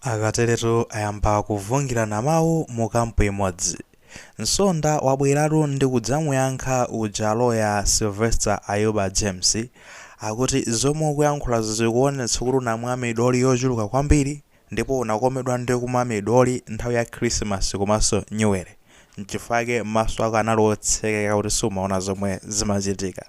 Akateretu ayamba kuvungirana mawu mu kampu imodzi. Msonda wabweratu ndi kudzamuyankha uja loya Sylvester Ayuba James akuti zomwe ukuyankhulazo zikuonetsa kuti unamwa midoli yochuluka kwambiri ndipo unakomedwa ndi kumwa midoli nthawi ya Khirisimasi komanso Nyuwere n'chifukwa chake maso ako anali otsekeka kuti siumaona zomwe zimachitika.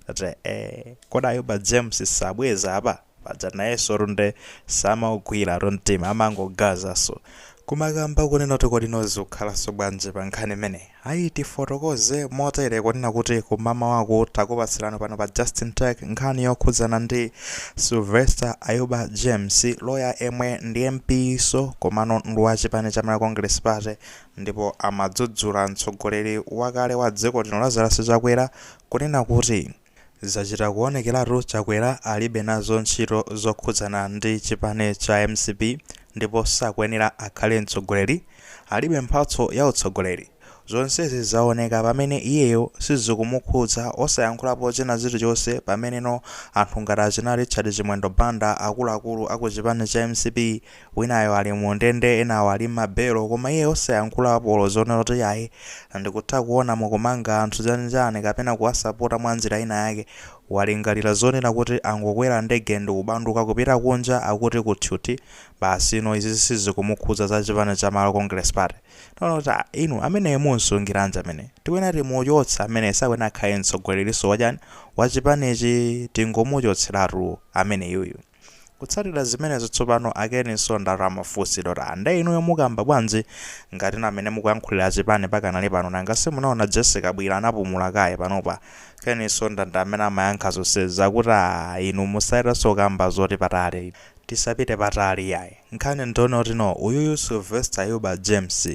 Ndati eeh, kodi Ayuba James sabweza apa? paja nayesotu nde samaugwilatu mtima amangogazanso kumakamba kunena kuti kodi no zikukhalanso bwanji pa nkhani imeneyi ayi tifotokoze motere kunena kuti kum'mamawaku takupatsirani pano pa justin tech nkhani yokhudzana ndi Sylvester Ayuba James loya yemwe ndi MP so komano ndi wa chipani cha Malawi Congress Party ndipo amadzudzula mtsogoleri wakale wa dziko lino Lazarus Chakwera kunena kuti Zachita kuonekeratu Chakwera alibe nazo ntchito zokhudzana ndi chipani cha mcp ndipo sakuyenera akhale mtsogoleri, alibe mphatso ya utsogoleri. Zonsezi zaoneka pamene iyeyo sizikumukhudza osayankhulapo china chilichonse pameneno anthu ngati achina Richard Chimwendo Banda akuluakulu aku chipani cha mcp winayo ali mu ndende enawo ali mma belo koma iye osayankhulapo olo zonena kuti ayi ndikutha kuona mukumanga anthu chanchani kapena kuwasapota mwa njira ina yake walingalira zonena kuti angokwera ndege ndikubanduka kupita kunja akuti ku tchuthi basi no izizi sizikumukhudza za chipani cha Malawi Congress Party taona kuti ah, inu ameneyo mumsungiranji amene tikuyenera timuchotse amene sakuyenera akhale mtsogoleriso wachani wachipanichi tingomuchotseratu ameneyuyu Kutsatira zimenezo tsopano a Ken Msonda atu amafunsidwa kuti ah nde inuyo mukamba bwanji ngati inu amene mukuyankhulira achipani pakanali pano nanga simunaona Jessie Kabwila anapumula kaye panopa Ken Msonda ndi amene amayankha zonsezi akuti ah inu musachitenso kukamba zapatali tisapite patali iyayi nkhani ndiyonoti no uyuyu Sylvester Ayuba James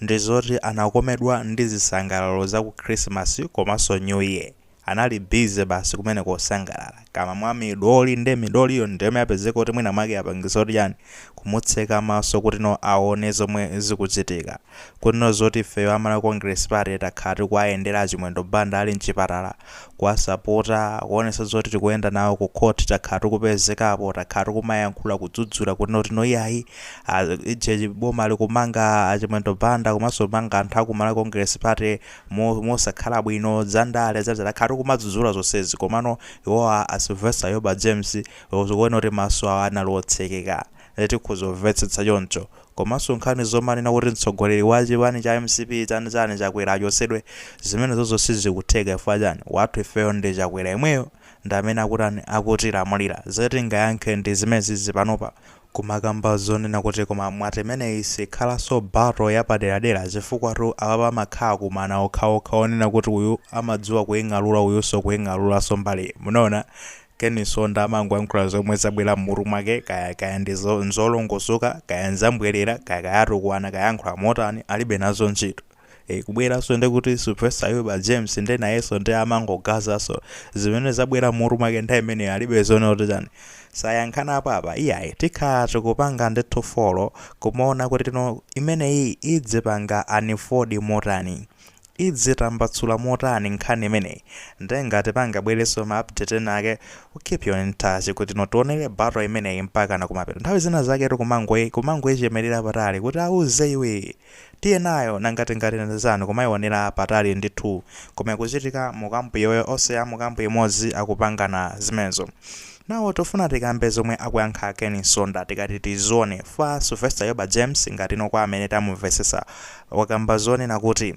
ndi zoti anakomedwa ndi zisangalalo za ku christmas komaso new year anali busy basi kumeneko kusangalala kumamwa midoli nde midoliyo ndiyomwe yapezeka kuti mwina mwake yapangisa zoti chani kumutseka maso kuti no asaone zomwe zikuchitika kunena zoti ifeyo a Malawi Congress Party takhala tikuwayendera a Chimwendo Banda ali mchipatala kuwasapota, kuonetsa zoti tikuyenda nawo ku court, takhala tikupezekapo, takhala tikumayankhula kudzudzula kunena kuti no iyayi, a, ija chi- boma likumanga a Chimwendo Banda komanso kumanga anthu a ku Malawi Congress Party mo- mosakhala bwino, za ndale, za takhala tikumadzudzula zonsezi komano iwowa a Sylvester Ayuba James zikuoneka kuti maso awo anali otsekeka. Nde tikhoza kuvetsetsa choncho. Komanso nkhani zomanena kuti mtsogoleri wa chipani cha mcp chani chani Chakwera achotsedwe, zimenezozo sizikutheka chifukwa chani? Wathu ifeyo ndi Chakwera yemweyo ndi amene akutani, akutilamulira. Zoti tingayankhe ndi zimenezizi panopa. Komakamba zonena kuti koma mwati imeneyi sikhalanso battle yapaderadera chifukwatu apapa amakhala akumana okhaokha onena kuti uyu amadziwa kuing'alura uyunso kuing'aluranso mbaliyi. Munaona? Ken Nsonda amangoyankhula zomwe zabwera mmutu mwake kaya kaya ndi nzolongosoka kaya nzambwelera kaya kaya atukwana kaya ayankhula motani alibe nazo ntchito ee kubweranso ndi kuti Sylvester Ayuba James nde nayenso nde amangogazanso zimene zabwera mmutu mwake nthawi imeneyo alibe zonena kuti chani sayankhanapo apapa iyayi tikhala tikupanga ndithu follow kumaona kutino imeneyi idzipanga unfold motani idzitambatsula motani nkhani imeneyi nde ngati pangabwereso ma update ena ake we keep you in touch kutino tionele battle imeneyi mpakana kumapeto nthawi zina zaketu kumangoyi kumangoichemelera patali kuti auze iwe tiye nayo nanga tingati ndizani kumaionera patali ndithu koma ikuchitika mu camp yawoyo onse amu camp imodzi akupangana zimenezo now tifuna tikambe zomwe akuyankha Ken Nsonda tikati tizione za Sylvester Ayuba James ngatino kwa amene tamumvetsetsa wakamba zonena kuti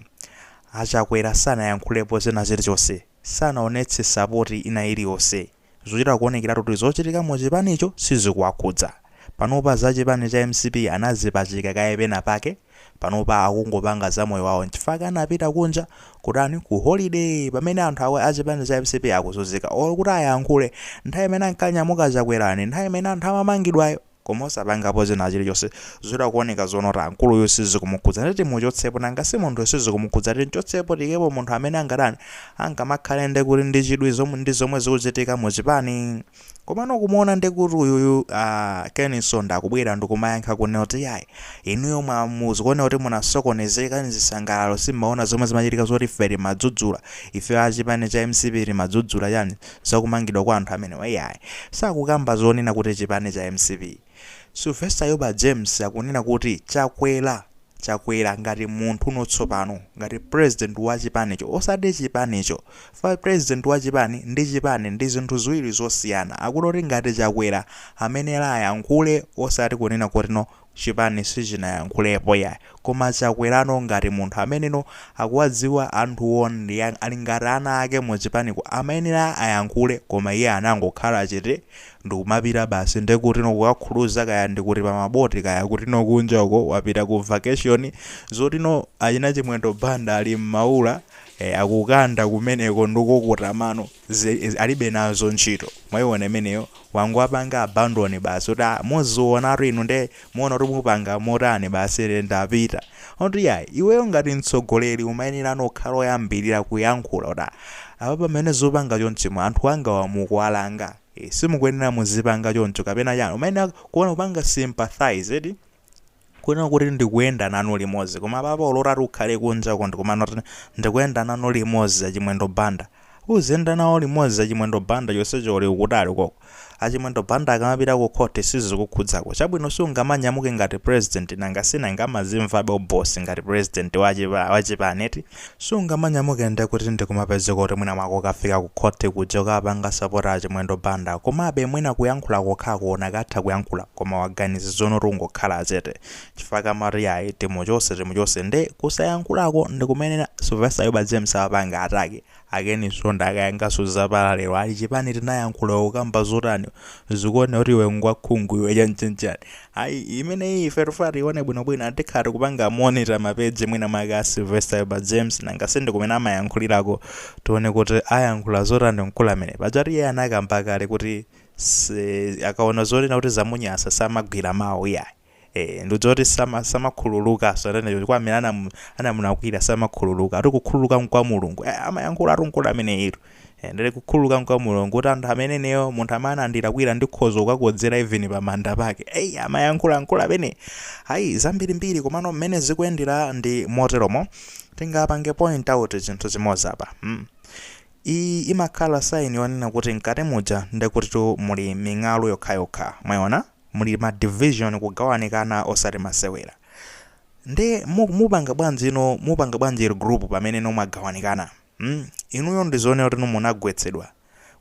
a Chakwera sanayankhulepo china chilichonse, sanaonetse sapoti ina iliyonse, zikuchita kuonekeratu kuti zochitika mu chipanicho sizikuwakhudza. Panopa za chipani cha mcp anazipachika kaye pena pake, panopa akungopanga za moyo wawo nchifukwa anapita kunja kutani, ku holiday pamene anthu awa a chipani cha mcp akuzunzika olo kuti ayankhule nthawi imene ankanyamuka Chakwerayo ndi nthawi imene anthu amamangidwayo. koma osapangapo china chilichonse zikuchita kuoneka zonena kuti mkuluyu sizikumukhudza ndiye timuchotsepo nanga si munthu sizikumukhudza timchotsepo tiikepo munthu amene angatani angamakhala ndi kuti ndi chidwi zomwe ndi zomwe zikuchitika mu chipani komano kumuona ndi kuti uyuyu uh, Ken Nsonda kubwera ndikumayankha kunena kuti yayi inuyo mwangozionera kuti munasokonezeka ndi zisangalalo simmaona zomwe zimachitika zoti ife timadzudzula ife achipani cha mcp timadzudzula chani zakumangidwa kwa anthu amenewa iyayi sakukamba zonena kuti chipani cha mcp. Sylvester Ayuba James akunena kuti Chakwera Chakwera ngati munthuno tsopano ngati president wa chipanicho osati chipanicho chifukwa president wa chipani ndi chipani ndi zinthu ziwiri zosiyana akunena kuti ngati Chakwera amayenera ayankhule osati kunena kutino chipani sichinayankhulepo yayi koma chakwerano ngati munthu ameneno akuwadziwa anthuwo ndi ali ngati ana ake mu chipaniko amayenera ayankhule koma iye anangokhala chete ndikumapita basi nde kutino kukakhuluza kaya ndi kuti pa maboti kaya kutino kunja uko wapita ku vacation zotino achina Chimwendo Banda ali mmaula akukanda kumeneko ndikukuta mano Izi alibe nazo ntchito mwaiona imeneyo wangowapanga abandon basi kuti ah muzionatu inu nde muona kuti mupanga motani basi ine ndapita oti yayi iweyo ngati mtsogoleri umayenera no kukhala oyambilira kuyankhula kuti ah apa pamene zupanga chonchimo anthu angawa mukuwalanga ee simukuyenera muzipanga choncho kapena chani umayenera kuona kupanga sympathize eti kunena kuti ndikuyenda nanu limodzi koma apapa ulola ati ukhale kunja uko ndikumanena kuti ndikuyenda nanu limodzi achimwendo banda uziyenda nawo limodzi achimwendo banda chonsecho uli ukutali ukoko achimwendo banda akamapita ku khoti sizikukhudzako chabwino sungamanyamuke ngati president nanga sinanga amazimvabe u boss ngati president wachipa wachipani eti Sungamanyamuke nde kuti ndikumapezeka kuti mwina mwake ukafika ku khoti kuja ukapanga support a Chimwendo Banda komabe mwina kuyankhula kokhako unakatha kuyankhula koma waganiza zoona kuti ungokhala chete chifukwa kamati yayi timuchose timuchose nde kusayankhulako ndikumenena Sylvester Ayuba James awapanga attack A Ken Msonda akayankanso za pa radio ali chipani tinayankhula ukukamba zotani zikuoneka kuti iwe ngwakhungu iwe chanchanchani ayi imeneyi ife tikufuna tiione bwinobwino ati tikhala tikupanga monitor ma page mwina mwake a Sylvester Ayuba James nanga sindikumene amayankhulirako tione kuti ayankhula zotani mkulu amene pajatu iye anakamba kale kuti si, akaona zonena kuti zamunyasa samabweza mawu iyayi. Eee ndikudziwa kuti sama samakhululuka so anene chifukwa amene anamu anamunakwira samakhululuka ati kukhululuka nkwa mulungu eh amayankhula ati mkulu ameneyitu eh ndele kukhululuka nkwa mulungu kuti anthu amene ineyo munthu amene anandilakwira ndikhoza kukakodzera even pa manda pake eyi amayankhula mkulu amene ayi zambiri mbiri komano mmene zikuyendera ndi moteromo tingapange point out chinthu chimozi apa mm. iyi imakhala sign yonena kuti mkati muja ndekutitu muli ming'alu yokhayokha mwayiona muli ma division kugawanikana osati masewera nde mu, mupanga bwanji no mupanga bwanji regroup pamene no mwagawanikana mm? inuyo ndizoona kuti no munagwetsedwa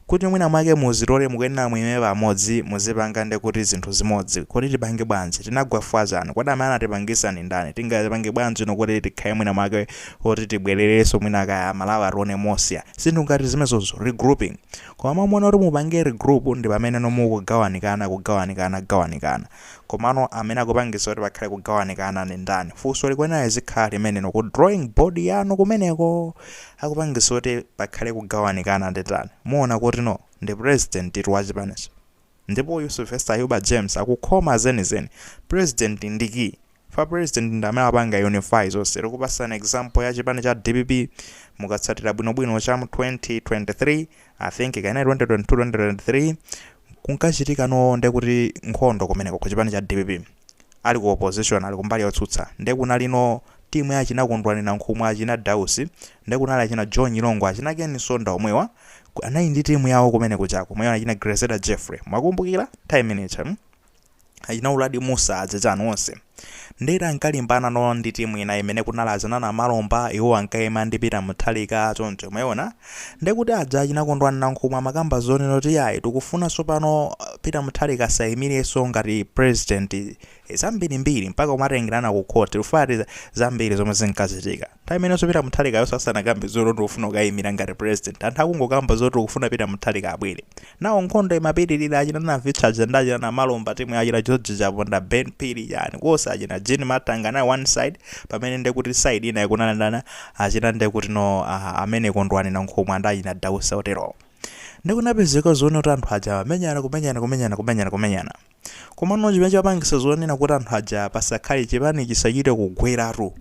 kuti mwina mwake muzitole mukuyenera muime pamodzi muzipanga nde kuti zinthu zimodzi kodi tipange bwanji tinagwa fwa chani kodi amene anatipangisa ndi ndani tingapange bwanji no kuti tikhale mwina mwake oti tibwerereso mwina kaya malawi atione mosya zinthu ngati zimezozo regrouping Koma muona kuti mupange regroup ndipameneno mukugawanikana kugawanikana gawanikana komano amene akupangisa kuti pakhale kugawanikana ndi ndani funso likuyenera lizikhala limenelo ku drawing board yanu kumeneko akupangisa kuti pakhale kugawanikana ndi ndani muona kuti no ndi president tu wachipanicho Ndipo uyu Sylvester Ayuba James akukamba zenizeni. President ndi key. Chifukwa president ndi amene amapanga unify zonse. Tikupasani example ya chipani cha dpp. Mukatsatira bwino bwino cha mu 2023, I think kaya inali 2022, 2023, kunkachitika no nde kuti nkhondo kumeneko ku chipani cha dpp. Ali ku opposition, ali kumbali yotsutsa. Nde kunali no team ya achina Kondwani Nankhumwa, achina Dausi, nde kunali achina Joe Nyirongo, achina Ken Msonda omwewa. anali ndi timu yawo kumene kuja komanso anachina Grezeda Jeffrey mwakumbukira nthawi imene ija mm? achina uladi mussa azitani onse nde kuti ankalimbana no ndi timu ina imene kunali achina namalomba iwo ankaima ndi peter mutharika choncho mwayiona ndekuti aja achina kondwani nankhumwa amakamba zonena kuti yayi tikufunanso pano uh, peter mutharika asayimirenso ngati president zambirimbiri mpaka umatengerana ku court ufati zambiri zomwe zinkachitika Nthawi imenenso Peter Mutharikayo sasanakambe zoti ndikufuna kukayimira ngati president. Anthu akungokamba zoti tikufuna Peter Mutharika abwere. Nayo nkhondo imapitirira achina Navitcha aja ndi achina Namalomba timu ya achina George Chaponda, Ben Phiri ndani konse achina Jean Matanga nawo one side pamene nde kuti side ina ikunanandana achina nde kuti no ah, amene Kondwani Nankhumwa ndi achina Dausi oterowo. Nde kunapezeka zonena kuti anthu aja amenyana kumenyana kumenyana kumenyana kumenyana. Komano chimene chapangisa zonena kuti anthu aja pasakhale chipani chisachite kugweratu.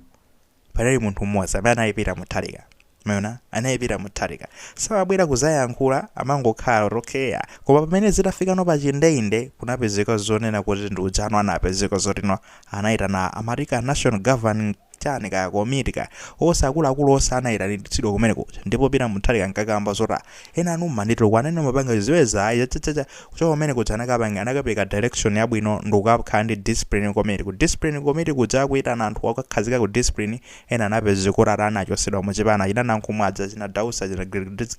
panali munthu mmodzi amene anali peter mutharika mwaona anali peter mutharika samabwera kuzayankhula amangokhala kuti okay ya koma pamene zitafika pano pachindeinde kunapezeka zonena kuti ndi ujeni anapezeka zotino anayitana amati ka national governing chani ka komiti ka ka akuluakulu onse anayitanitsidwa kumene kuja ndipo peter mutharika ankakamba zoti enanu mumanditukwana inu mumapanga chidziweza ayi chachachacha kuchoka kumene kuja anakapanga anakapeza direction yabwino ndikukakhala ndi discipline committee ku discipline committee kuja akuyitana anthu okakhazika ku discipline ena anapezeka kuti ati anachosedwa muchipani achina nankhumwa aja achina dausi achina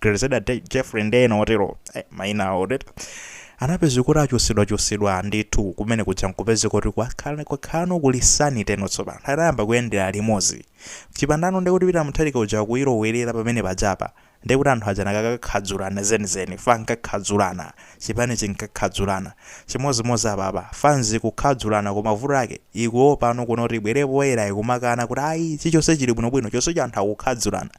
grezeda jeffrey ndi ena otero eh, mayina awo tere anapezeka kuti achosedwa chosedwa ndithu kumene kuja nkupezeka kuti kwakhala kwakhalano kuli sanity tsopano anayamba kuyendera limodzi chifukwa chano ndikuti peter mutharika uja kuyilowerera pamene pajapa Ndiye kuti anthu aja anakakakhadzulana zenizeni chifukwa ankakhadzulana, chipani chinkakhadzulana. Chimodzimodzi apapa, fanzi ikukhadzulana koma vuto lake ikuopano kuno kuti ibwere poyera ikumakana kuti ayi chichonse chili bwinobwino chonsecho anthu akukhadzulana.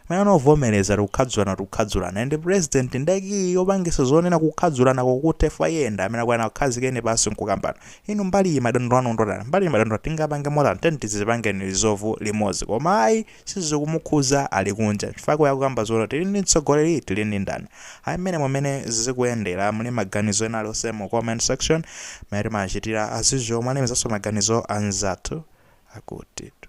Man avomereze kuti kukhadzulana kuti kukhadzulana and president nde kiyi yopangisa zonena kukhadzulanako kuthe chifukwa iye ndi amene akuyenera kuwakhazika pansi nkukambano. Inu mbaliyi madandaula anu ndotani? Mbaliyi madandaula tingapange motani? Tiyeni tizipangeni resolve limodzi koma ayi. sizikumukhudza ali kunja chifukwa cha kuti akukamba zonena kuti tili ndi mtsogoleri tili ndi ndani ayi mmenemo mmene zikuyendera muli ndi maganizo ena alionse mu comment section mmene timachitira as usual mwalemekezanso maganizo a anzathu akutitu